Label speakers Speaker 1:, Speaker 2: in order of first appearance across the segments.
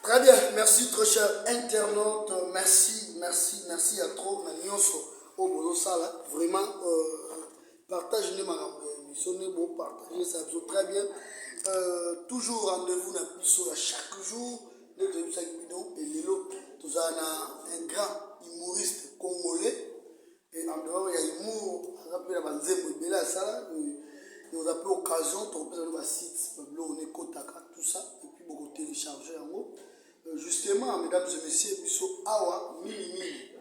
Speaker 1: Très bien, merci très cher internaute, merci, merci, merci à trop na nyonso oyo bozosala vraiment euh, partage nde makambo ya biso nde bopartage ça biso très bien euh, toujours rendez-vous na biso ya chaque jour nde toyebisaki bino elelo tozala na un grand humoriste congolais Et en dehors ya humour, aza mpe na ba nzembo ebele asala et oza mpe occasion tokopesa bino ba sites ba biloko na ekotaka tout ça et puis boko télécharger yango euh, justement mesdames et messieurs biso awa mingi mingi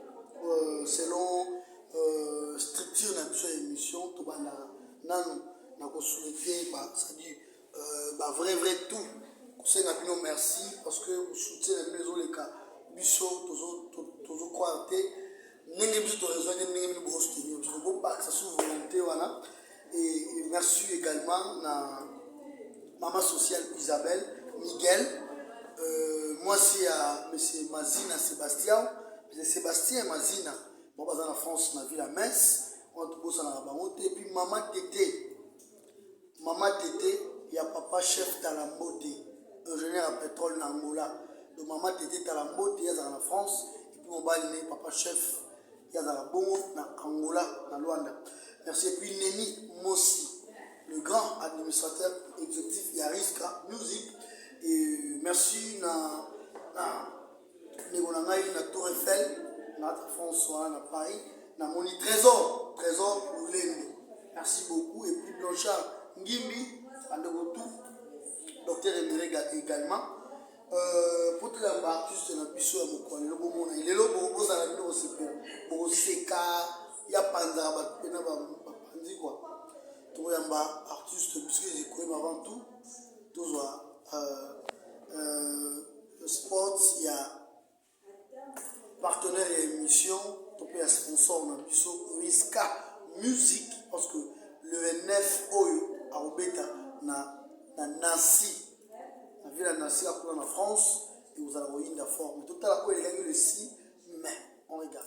Speaker 1: euh, selon euh, structure na biso ya émission tobandaka nanu na kosouhaite ba c'est-à-dire euh, ba vrai vrai tout kosenga bino merci parce que soutien na bino ezoleka biso tozo croire te ndenge biso toraison te ndenge bino bosoutenir biso bobakisa sur volonté wana et merci également na mama social isabelle miguel euh, mwasi ya monsieur mazina sébastien monsieur sébastien mazina bango baza na france na ville ya metz wana tobosanaka bango te epuis mama tete Maman tete ya papa chef tala mbote ingenieur ya petrole na Angola do maman tete tala mbote ya zala na France et puis mobali ne papa chef ya zala bongo na Angola na Luanda merci et puis Neni Mosi le grand administrateur exécutif ya Riska Music et merci na na Ndeko na ngai na Tour Eiffel na François na Paris na moni Trésor Trésor Lulendo. Merci beaucoup et puis Blanchard Ngimbi bandeko tout Docteur Emerega également. Euh, pour tout le monde, artiste na biso ya mokolo lelo bomona lelo bozala bino kosepela bokoseka ya panzaka bato mpena bapanzi kua tokoyamba artiste biso ezokoyeba avant tout tozwa euh, euh, Sports ya partenaire ya emission to pe ya sponsor na biso Miska Music parce que le 29 oyo akobeta na na Nancy na ville ya Nancy akuna na France et vous allez koyinda fort mais totala oyo elekaki le 6 mai on regarde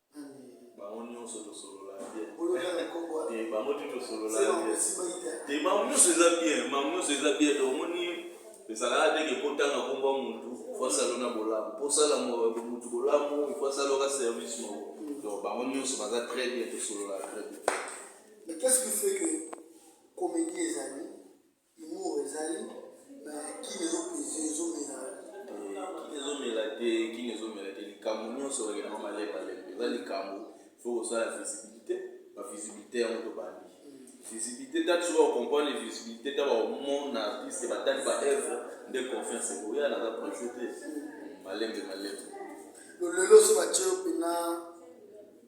Speaker 2: bango nyonso tosolola te bango te tosolola te bango nyonso eza bien bango
Speaker 1: nyonso eza bien to omoni ezalaka te ke kotanga nkombo ya motu fo asala na bolamu mpo osala motu bolamu ifo asala oka service moko donc bango nyonso baza très bien tosolola très bien mais qu'est ce qui fait que comédie ezali Humour ezali mais kin ezo peser ezo mela. Kin ezo mela te kin ezo mela te likambu
Speaker 2: nionso ba kendaka malembe lembe eza likambu il faut kosala visibilite ba visibilite yango to bandi visibilite tangu soki bako comprendre visibilite tangu bako mona artiste ba tali ba oeuvre nde confiance ekoya naza presse te malembe malembe.
Speaker 1: Lolelo soki batie yo pena.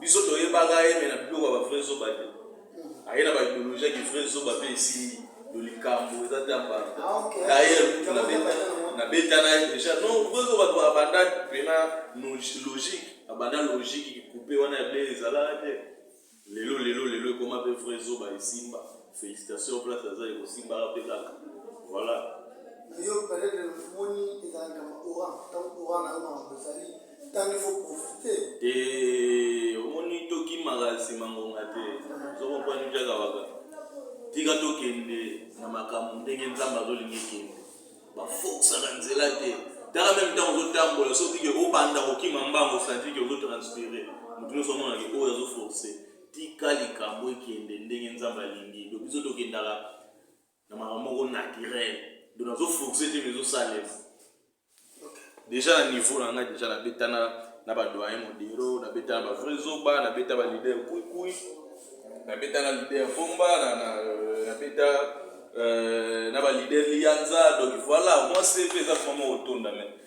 Speaker 2: biso toyebaka ye me na biloko ya bavrai zoba te aye na baideologie ya kivrai zoba mpe esimbi to likambo eza te ambanda dayer kutu nabeta na ye deja no vrai zoba to abanda mpena logique abanda logique kikupe wana ya ble ezalaka te lelo lelo lelo ekoma mpe vrai zoba esimba félicitation place aza ekosimbaka mpe kaka voilà yo
Speaker 1: peut-être omoni ezalaka maora ntango ora na yo makambo ezali Tango il faut profiter. Te
Speaker 2: omoni to kimaka sima ngonga te. Zo comprendre bien kawaka. Tika to kende na makambo ndenge Nzambe azolinga ekende. Ba fokusaka nzela te. Tala meme ntango ozotambola soki ke obanda kokima mbango osanti ke ozotranspire moto nyonso amonaki oyo azoforce tika likambo ekende ndenge nzambe alingi donc biso tokendaka na makambo moko naturel donc nazo force te mais ezosalema deja na niveau na ngai deja nabetana na badoyen modero nabetana ba vrai zoba nabeta ba leader kuikui nabeta na leader bomba nabeta na ba leader liyanza donc voilà moi cv eza vraiment otonda mais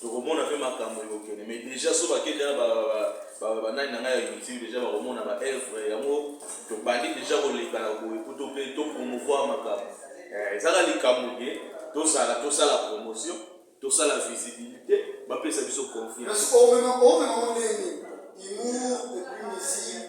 Speaker 2: Tokomona pe makambu ekokende mais dejà soki bake dejà na ba ba nani na ngai ya youtube dejà bakomona ba œuvre yango tobandi dejà koleka na boye po to pe to promouvoir makambu eh, eza ka likambu ke tozala tosala promotion tosala visibilité bapesa biso confiance. Omema omema
Speaker 1: ondenge humour et puis musique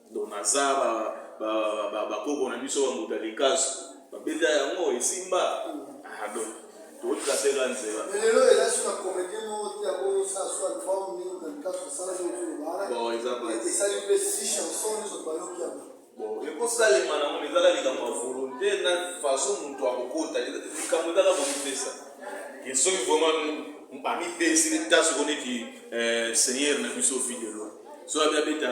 Speaker 2: Donc naza ba ba ba ba koko na biso ba mbuta likasu ba beta yango esimba ah donc to tracer la nzela lelo ela sur
Speaker 1: la comédie mo ti ya ko sa sur album ni na likasu sala zo ko bala bon eza ba
Speaker 2: et ça lui fait six
Speaker 1: chansons zo ba yo ki aba bon et ko sa
Speaker 2: le mana mo ezala likambo ya volonté na façon mutu akokota likambo ezala komipesa et soki vraiment amipesi ntaso ko neti eh, seigneur na biso fidelo so abi abeta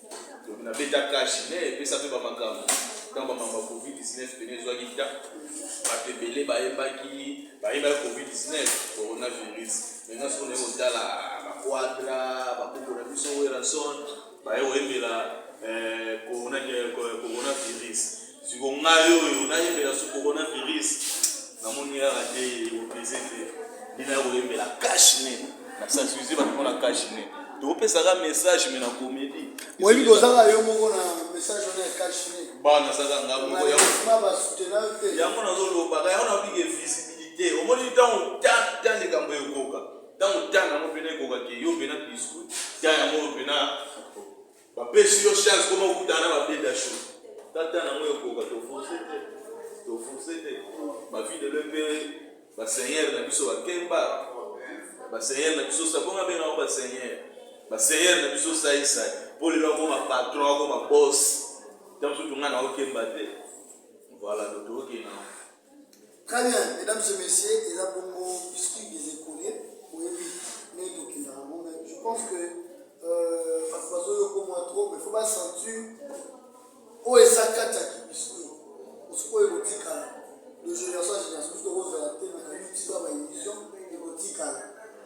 Speaker 2: Donc na beta cash mais epesa pe ba makambo. Dans ba mamba Covid 19 pene ezwaki ta bato ebele bayebaki bayebaki Covid 19 coronavirus. Maintenant soki onaye kotala ba quadra ba koko na biso Werrason baye koyembela eh, corona, eh, coronavirus siko ngai oyo nayembela su coronavirus namoni kaka te opese te bino ya koyembela cash ne na sensibilize bato mpona cash ne topesaka message me na komedi oyebi kozanga
Speaker 1: yo moko na message wana ya cash ne bana saka nga moko yango nazolobaka yango
Speaker 2: nabike visibilité omoni ntango ta likambo ekoka ntango ta yango mpena ekokaki yo mpena biscuit ta yango mpena Ba pesi yo chance koma okuta na ba beda show. Tata na moyo koka to forcer te. To forcer te. Ba vie de l'EPE, ba seigneur na biso ba kemba. Ba seigneur na biso sa bonga benga ba seigneur. Ba seigneur na biso sa isa. Pole na koma patron, koma boss. Tango tunga na okemba te. Voilà, to toke na.
Speaker 1: Très bien, mesdames et messieurs, eza bongo biscuit des écoliers, oyebi ndenge tokenda yango, mais je pense que euh, bato bazoyoka mwa trop, mais faut basentir oyo eza kati ya kibiscuit osikoyo ekotikala de génération ya génération biso tokozala te na kayuti ba baillusion ekotikala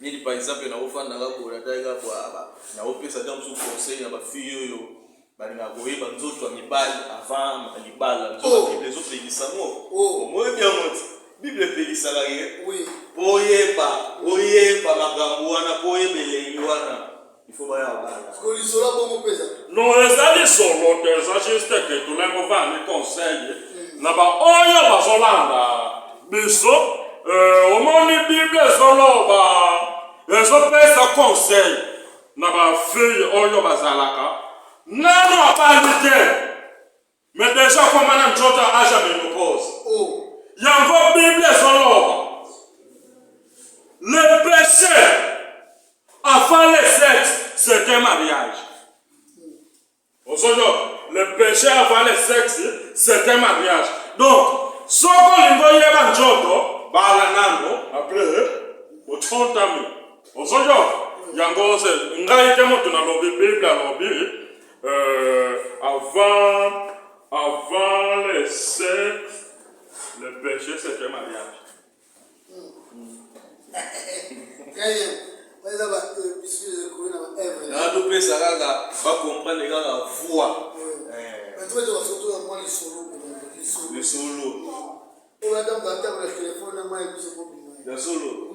Speaker 2: neti par exemple na ofanda nga boye natali nga boye ah, na opesa ta mosusu conseil na bafille oyo balingaka koyeba nzoto ya mibali avant libala oh. bible ezopekisa ngo oh. omoyebi yango ti bible epekisaka ye po
Speaker 1: oyeba
Speaker 2: oyeba makambo wana po oyeba elengi wana Il faut baya
Speaker 1: bana. Parce que lisolo
Speaker 3: ya bongo mpe ezali. Non, eza lisolo te, eza juste que tolingi kovanda ni conseil na baoyo bazolanda biso. Euh, omoni Bible ezoloba ezopesa conseil na bafille oyo bazalaka nano abandi te Mais dejà akoma na nzoto ya âge ya menopause. Oh. Yango Bible ezoloba. Le péché avant le sexe, c'est un mariage. Ozoyo, le péché avant le sexe, c'est un mariage. Donc, soko olingi oyeba nzoto, bala nango, après, otontami. Ozoyo, yango ngai te moto nalobi, Bible alobi, Euh, avant, avant le sexe, le péché c'est un mariage.
Speaker 2: natopesa kaka bacomprendre kaka voi lisolo ya solo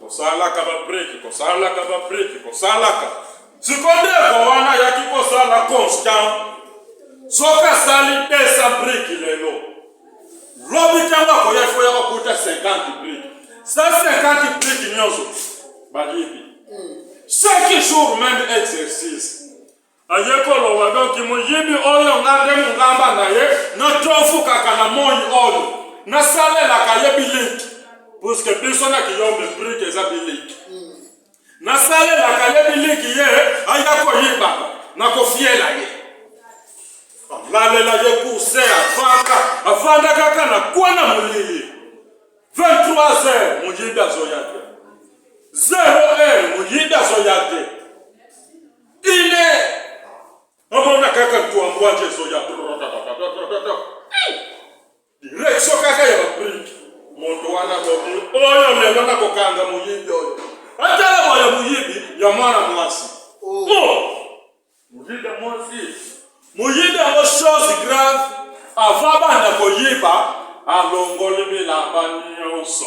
Speaker 3: kosalaka babreki kosalaka babreki kosalaka sikondeko wana ayaki kosala constant soki asali 200 briki lelo lobi ntango akoya fo ya kokuta 50 briki 150 briki nyonso bayebi chaque jour même exercice aye koloba donki moyibi oyo nga nde mongamba na ye natofukaka na moi oyo nasalelaka ye biliki puske biso na kiyombe brike eza biliki nasalelaka ye biliki ye aya koyibaka nakofiela ye alalela ye kuse avanda avanda kaka na kwana molili 23 heures moyibi azoya te 0 heure moyibi azoya te Ine! Omona kaka tuambwaje ezoya direksio kaka ya babriki moto wana bobi oyo lelo na kokanga moyibi oyo atala moya moyibi ya mwana mwasi oh. oh! moyibi ya mwasi moyibi yango chose grave ava banda koyiba alongoli bilamba nyonso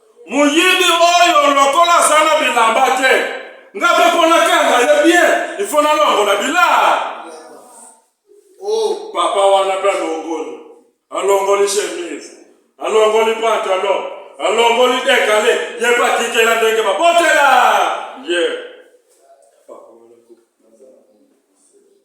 Speaker 3: moyibi oyo lokola aza na bilamba te nga mpe mpo nakanga ye bien ifo nalongola bilaa
Speaker 1: oh. papa wana
Speaker 3: mpe alongoli alongoli chemise alongoli pantalon alongoli dekale ye mpe atikela ndenge babotela ye yeah.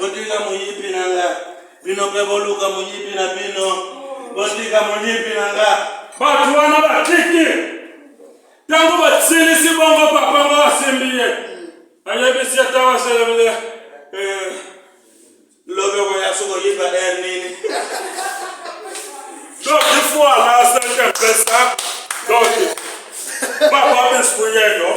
Speaker 3: Botika moyibi na nga. Bino pe boluka moyibi na bino. Botika moyibi na nga. Bato wana batiki. Tango basilisi bongo papa ngo asimbi ye. Ayebisi ata waselebele. Eh, lobeko ya soko yiba er nini. Donc il faut aller à cette personne. Donc, papa biscuit, non?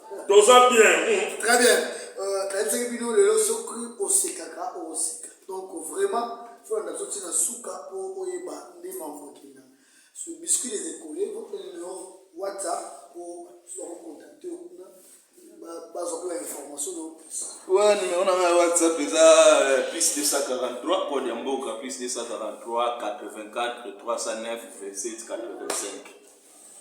Speaker 3: Toza bien. Hmm. Très bien.
Speaker 1: Euh, nayebisaki bino lelo soki osekaka okoseka donc vraiment fo na ndakso ntina suka mpo oyeba nde mambo ekenda so biscuit les école votre numero whatsapp mpo bakokontakte yo kuna bazwa mpe bainformation na opesa wa numero
Speaker 2: na ngai whatsapp eza euh, plus 243 code ya mboka plus 243 84 309 27 85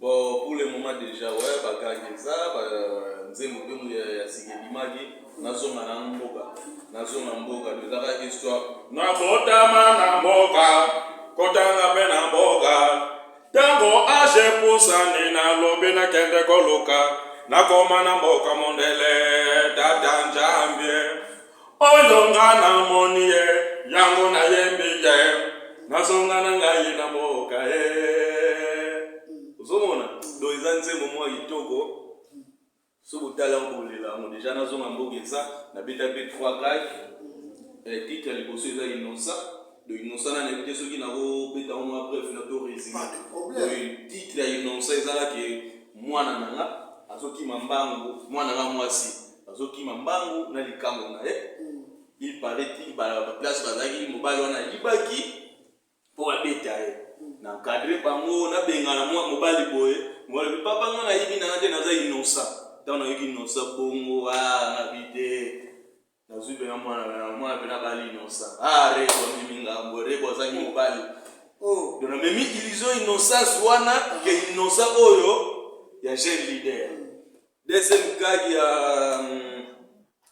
Speaker 1: Bon pour le
Speaker 2: moment dejà ouais ba gangi eza ba nzembo pe muya ya sika ebimaki nazonga na mboka nazonga mboka eza kaka histoire nabotama
Speaker 3: na mboka kotanga pe na mboka tango age pusani nalobi nakende koluka nakoma na mboka mondele tata njambie Oyo nga na moni ye, yango na yembi ye, na zonga na ngai na mboka ye. Ozo mona? Do eza nzembo mwa kitoko, so botala yango bolela yango deja na zonga mboka eza, na beta pe 3 live, eh, titre ya liboso eza innocent, do innocent na nayebi te soki na ko beta yango mwa bref na to resume, titre ya innocent eza la ke mwana na nga azo kima mbangu, mwana nga mwasi. azokima mbangu na likambo na ye mm. il paraît ti baplace bazalaki mobali wana ayibaki mpo babeta ye mm. na cadre bango nabengana mwa mobali boye mobali bi papa nga nayibi nanga te naza inosa ntango nayoki inosa bongo nabi ah, te nazwi mpena mwana mwana mpena bali inosa a ah, rebo amemi ngambo rebo azangi mm. mobali oh. don amemi illusion innosance wana ke innosa oyo ya jeune leader Deuxième gag ya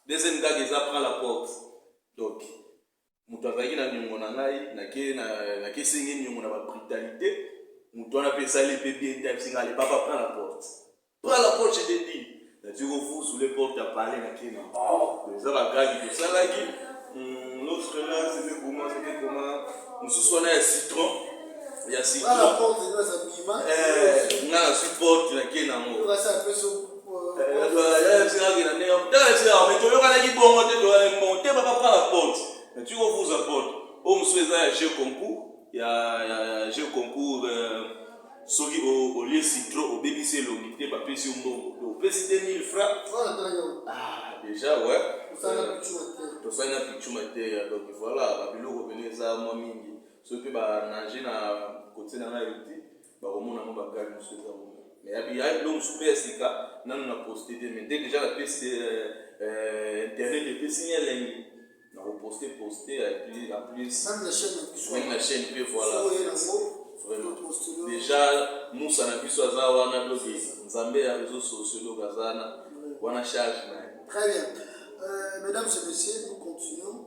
Speaker 3: deuxième gag eza prend la porte. Donc moto azalaki na niongo na ngai nake na nake sengi niongo na ba brutalite. Moto wana pe esali pe bien te abisi ngai papa prend la porte. Prends la porte je te dis. Na tu ko fusu le porte ya palais na kena. Oh, eza ba gag to salaki. L'autre là c'était comment c'était comment mosusu wana ya citron ya sika na porte ndio za
Speaker 1: bima eh nga na support
Speaker 2: na kie na ngo basa peso toyokanaki bongo te toyali mbongo te baka pa la porte na tiko vuza porte oyo mosusu eza ya jeu concours ya jeu concours euh, soki olie citro obebisi elongi te bapesi yo mbongo to opesi te 1000 franc ah, déjà ouais tosali na pichuma te donc voilà babiloko pene eza mwa mingi Soki pe ba nager na cotier na ngai te bako mona mwa ba gag mosusu eza kuna. Mais ya bi ya biloko mosusu pe ya sika nanu na poster te mais dès que ja na pesi internet epesi nga elengi nako poster poster et puis en plus meme na chaine pe voila vraiment dejà musa na biso aza wana donc nzambe ya reseaux sociaux donc aza wana wana charge naye. Très bien.
Speaker 1: Euh, mesdames et messieurs, nous continuons.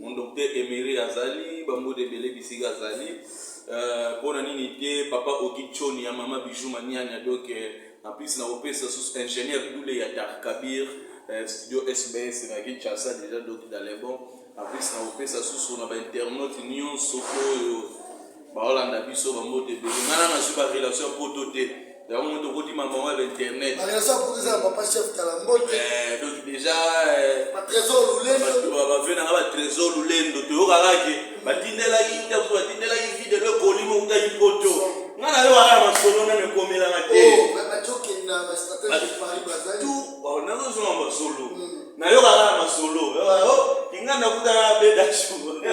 Speaker 2: Mon docteur Emery azali, ba mboda ebele bisika azali. Euh, pona nini te papa Ogi Choni ya mama Bijou Maniania donc euh, en plus na kopesa sous ingénieur Doule ya Dar Kabir euh, studio SBS na Kinshasa déjà donc dans les bons. En plus na kopesa sous na ba internautes nyonso oyo baolanda biso bambote ebele nga na nazwi barelation ya poto te yango moto okoti mamango ya bainternet eh,
Speaker 1: donc déjà eh, bave nanga batrésor
Speaker 2: lulendo toyokaka ke batindelaki ntaso batindelaki vide lo ekoli mokutaki poto nga nayo wana masolo nano ekomelanga te
Speaker 1: oh, nazozonga
Speaker 2: masolo hmm. nayokaka na masolo oh, oh, inga nakutana beda shuga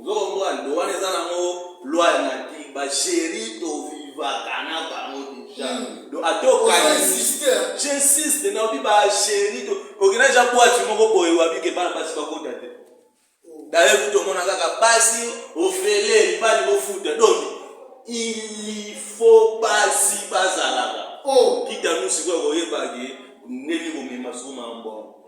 Speaker 2: Ozo comprendre donc wana eza nango loi ya nature ba cheri to vivaka na bango deja hmm. donc ata okanisi j'insiste na obi ba cheri to okenda ja boite moko boye wabi ke bana basi bakota te oh. d'ailleurs kutu omona kaka basi ofele mibali bofuta donc il faut basi bazalaka oh. kita nu
Speaker 1: sikoyo
Speaker 2: koyebaki ndenge komema suma mbongo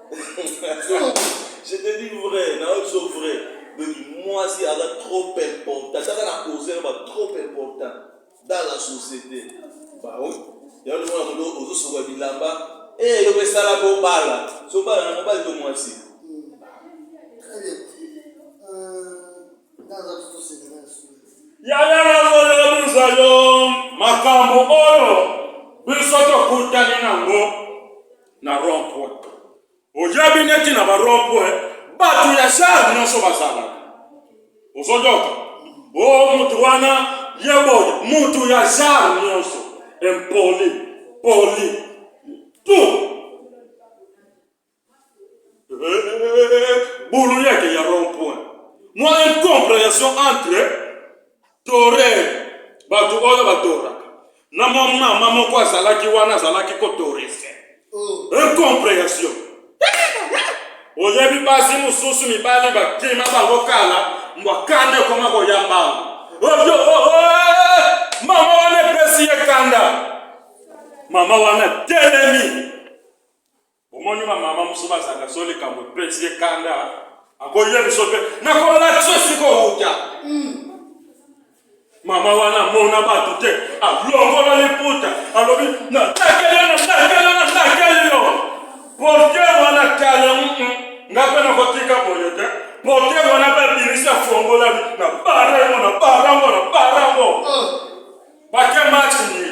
Speaker 2: je te dis vrai na yo so vrai donc mwasi aza trop important kaka na cause ba trop important dans la société ba oui ya le mwana moto ozo soka bilamba eh yo pesala ko bala so bala na mobali to mwasi
Speaker 1: yaya nazoyebisa
Speaker 3: yo makambo oyo biso tokutani nango na rond point oyebi neti na ba rond point bato ya genre nyonso bazalaka ozoyoka o oh, moto wana ye boye moto ya genre nyonso impoli poli tout bulu yeke ya rond point mwa incomprehension entre Torer, bato oyo batoraka. Na mwa mama moko azalaki wana, azalaki kotorese. Incomprehension. Oyebi basi mosusu mibali bakima bango kala, mbwa kanda ekoma koya mbango. Oyo, oh, eh, mama wana epesi ye kanda. Mama wana telemi. Omoni ba mama musu bazanga so likambo epesi ye kanda akoye biso mpe nakolakisa esika owuta hmm. mama wana amona bato te alongola liputa alobi natakeli yo natakeli yo natakeli yo porte wana tala hmm, hmm. nga mpe nakotika boye te porte wana mpe abimisi afongolami na barango na barango na barango oh. bake match nini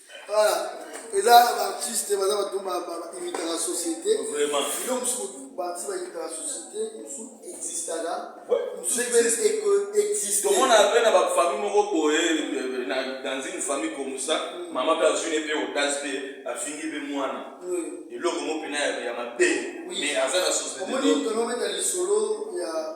Speaker 1: Voilà. eza baartiste baza bato bainitaka société bino
Speaker 2: mosusu
Speaker 1: baartiste bainitaka société mosusu existaka tomona mpe na bafamille
Speaker 2: moko boye dans une famille comme ça mama mpe azwi ne mpe otage mpe afingi mpe mwana eloko mo mpena ya mabe mais aza na société omoni tonometa
Speaker 1: lisolo ya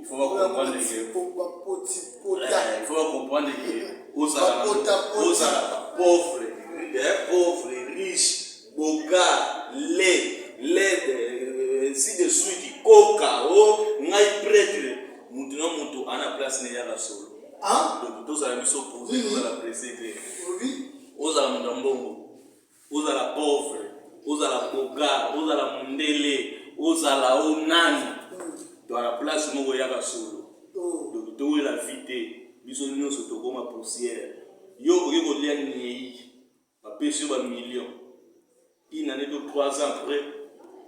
Speaker 2: Il faut ba comprendre que il faut ba comprendre que ozala ozala pauvre, eh, pauvre, riche, boga, laid, laid, euh, ainsi de suite, koka, oh, ngai prêtre, mutu na mutu ana place ne yaka solo. Donc tozala biso pose, tozala presse te. Ozala mutu ya mbongo. Ozala pauvre, ozala boga, ozala mundele, ozala o nani, to na place moko yaka solo. Donc towela vie te, biso nionso tokoma poussière. Yo okoki kolia nieyi, bapesi yo ba millions, une annee to trois ans après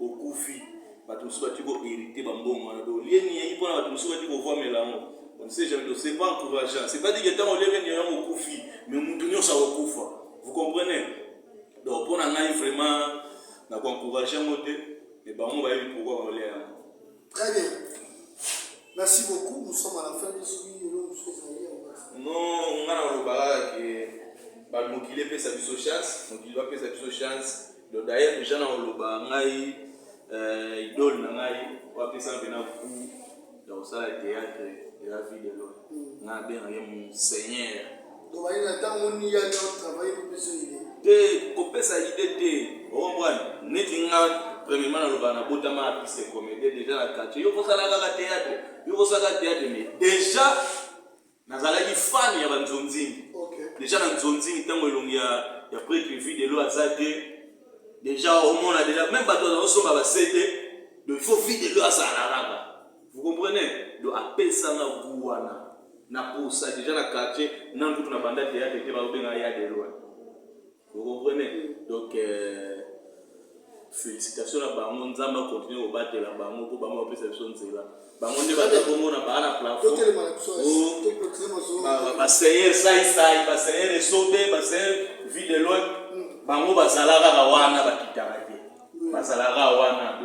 Speaker 2: okufi, batu mosusu bati ko heriter ba mbongo wana. Donc olie nieyi pona batu mosusu bati kovuamela yango. On ne sait jamais, donc c'est pas encourageant. C'est pas dit que tango oliaki nieyi yango okufi, mais mutu nionso akokufa. Vous comprenez? Donc mpo na ngai vraiment na ko encourager yango te, mais bango bayebi pourquoi baolia yango. Très
Speaker 1: bien. Merci beaucoup. Nous sommes à la fin de ce vidéo.
Speaker 2: Non, nga na olobaka ke ba mokili epesa biso chance, mokili bapesa biso chance. Donc d'ailleurs dejà na koloba ngai euh, idole na ngai wapesa mpe na coup ya kosala théâtre eza vie de loin mm. nga abengaki monseigneur
Speaker 1: te kopesa
Speaker 2: ide te okomprane neti nga premièrement naloba nabotama apise comédie déjà na quartier yo kosala kaka théâtre yo kosala théâtre mais déjà nazalaki fan ya banzonzingi okay. deja na nzonzingi ntango elongi ya, ya pretre vie de loi aza te deja omona deja meme bato bazakosomba basete do il faut vie de loi azala na raba vous comprenez do apesanga gu wana na posa deja na quartier na nkutu na banda teyate te bakobenga ya de loi Vous comprenez? Donc felicitations na bango nzambe a continuer kobatela bango mpo bango bapesa biso nzela bango nde baza bongo na baa na plafond baseigneur saisai baseigneur esobe baseigneur vie de loin bango bazala kaka wana bakitaka te bazala kaka wana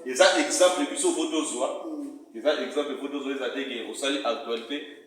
Speaker 2: eza exemple biso fo tozwa eza exemple fo tozwa eza te ke osali actualité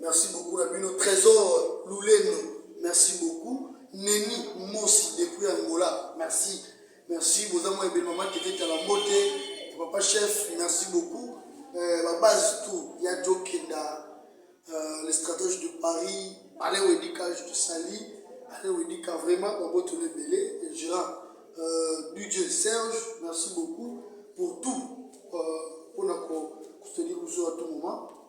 Speaker 1: Merci beaucoup na bino Trésor Lulendo merci beaucoup Neni Mosi depuis Angola merci merci boza mwa ebele mama tete tala mbote papa chef merci beaucoup euh, ba base tout ya Joe Kenda euh, les stratèges de Paris Alain Wedika je te salue Alain Wedika vraiment ba boto le belé Gérard euh, DJ Serge merci beaucoup pour tout euh, on a ko soutenir vous à tout moment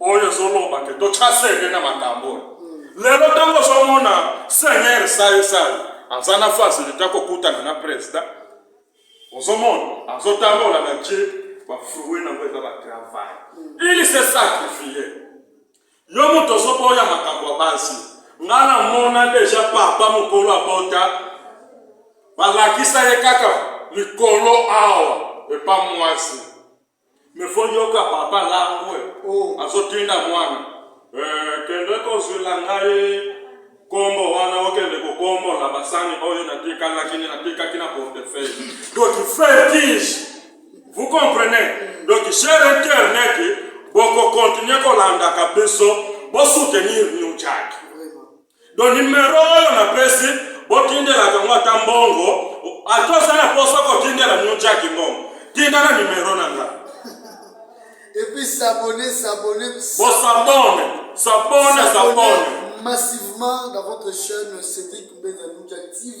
Speaker 3: oyo ezoloba ke totya senge na makambo oyo lelo ntango ozomona seigneur saisai aza na fasilite ya kokutana na presida ozomona azotambola na je bafrui nango eza batravai ili se sakrifie yo moto ozoboya makambo ya basi nga namona deja papa mokolo abota balakisa ye kaka likolo awa epa mwasi Mais faut yoka papa langue oh. azotinda mwana eh, kende kozwela ngai kombo wana okende kokombola basani oyo natikalaki natikaki na portefeuille donc fertige vous comprenez donc cher internet bokokontinue kolandaka biso bosoutenir new jack do nimero oyo napesi botindelaka yango ata mbongo ata oza na mposa kotindela new jaki mbongo tinda na nimero na nga
Speaker 1: epuis sabone sabone
Speaker 3: bosabone sabone sabone massivement dans
Speaker 1: votre chaîne cédric mbenza new jaki tv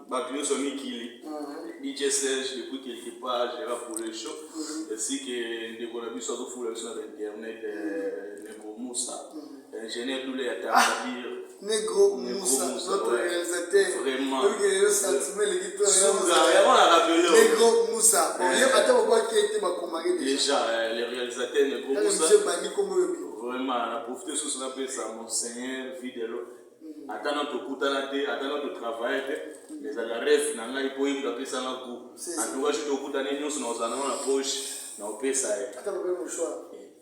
Speaker 2: bato nyonso ya mikili DJ Serge depuis quelque part Gérard pour le show ainsi que ndeko na biso azofula biso na internet ndeko Musa ingénieur Doule ya Tarabir Negro Musa
Speaker 1: notre réalisateur
Speaker 2: vraiment suga yango
Speaker 1: na rappelé Negro Musa oye ata babwaki ete bakomaki
Speaker 2: déjà le réalisateur Negro Musa vraiment na profite susu napesa monseigneur Videlo ata na tokutana te ata na totravaille te ezalaka reve na ngai mpo ye moto apesanga gout antuka soki tokutani nyonso na kozala nango na poche na kopesa ye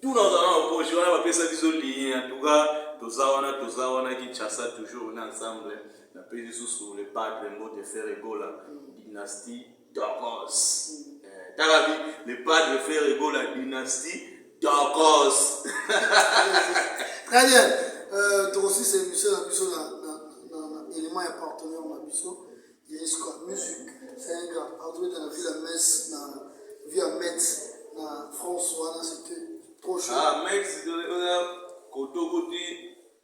Speaker 2: tu na kozala na poche wana bapesa biso ligne antuka toza wana toza wana kinshasa toujours na ensemble napesi lisusu le padre mbote ferre gola dynastie Tokos. Eh, tala bi le padre Ferre Gola dynastie Tokos.
Speaker 1: Très bien. Euh, tokosisa émission na biso na élément ya partenaire na biso yesko musique c'est un grand partenaire dans la ville à Metz na ville à Metz na France wana c'était trop chaud. Ah Metz euh,
Speaker 2: koto koti